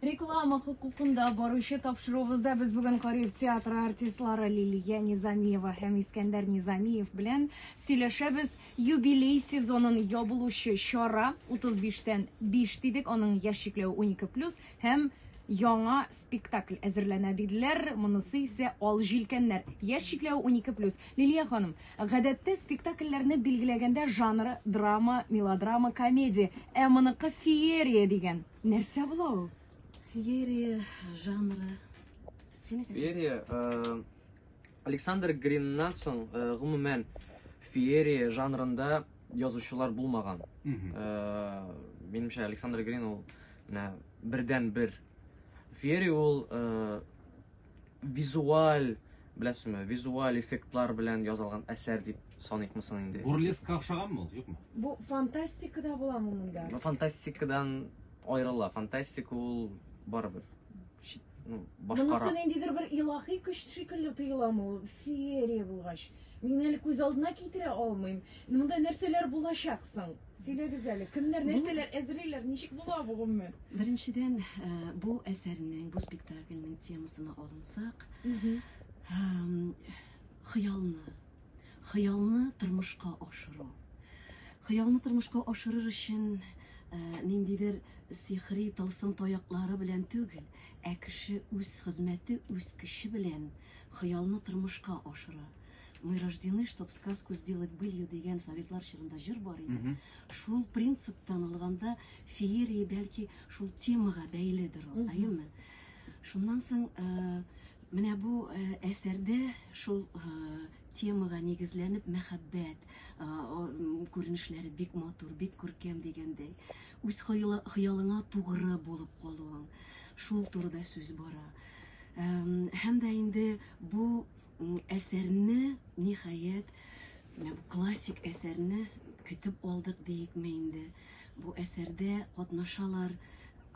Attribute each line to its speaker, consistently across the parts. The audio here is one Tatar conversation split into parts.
Speaker 1: Реклама хокукында баручы тапшыруыбызда без бүген Кариев театры артистлары Лилия Низамиева һәм Искәндәр Низамиев белән сөйләшәбез. Юбилей сезонын ябылучы чара 35-тән 5 дидек, аның яшь чикләве 12+, һәм яңа спектакль әзерләнә диделәр. Монысы исә Ал җилкәннәр. Яшь чикләве 12+. Лилия ханым, Гадәттә, спектакльләрне билгеләгәндә жанры, драма, мелодрама, комедия, ә моныкы феерия дигән. Нәрсә була ул? Феерия
Speaker 2: жанры. Син әйтәсең.
Speaker 3: Феерия, э, Александр Гриннан соң, э, гомумән, феерия жанрында язучылар булмаган. Мгм. Э, Минемчә, Александр Грин ул менә бердән-бер. Феерия ул э, визуаль беләсезме визуаль эффектлар белән язылган әсәр дип саныйкмы соң инде бурлескка охшаганмы ул
Speaker 4: юкмы бу фантастикада
Speaker 1: буламы монда фантастикадан
Speaker 3: аерыла фантастика ул барыбер ну, башкара.
Speaker 1: Монысы ниндидер
Speaker 3: бер илаһи
Speaker 1: көч шикелле тоеламы ул феерия булгач. Мин әле күз алдына китерә алмыйм. Монда нәрсәләр булачак соң? Сөйләгез әле, кемнәр, нәрсәләр әзерлиләр, ничек була бу гомумән? Беренчедән,
Speaker 2: бу әсәрнең, бу спектакльнең темасына алынсак, хыялны, хыялны тормышка ашыру. Хыялны тормышка ашырыр өчен ниндидер сихри тылсым таяклары белән түгел, ә кеше үз хезмәте, үз көче белән хыялны тормышка ашыра. Мы рождены, чтоб сказку сделать былью дигән советлар чорында җыр бар иде. Mm -hmm. Шул принциптан алганда феерия бәлки шул темага бәйледер ул, әйеме? Шуннан соң э, менә бу э, әсәрдә шул э, темага нигезләнеп мәхәббәт күренешләре бик матур, бик күркәм дигәндәй. Үз хыялыңа тугры булып калуың, шул турыда сүз бара. Һәм дә инде бу әсәрне, ниһаять, менә бу классик әсәрне көтеп алдык диекме инде. Бу әсәрдә катнашалар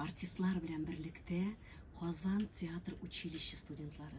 Speaker 2: артистлар белән берлектә Казан театр училище студентлары.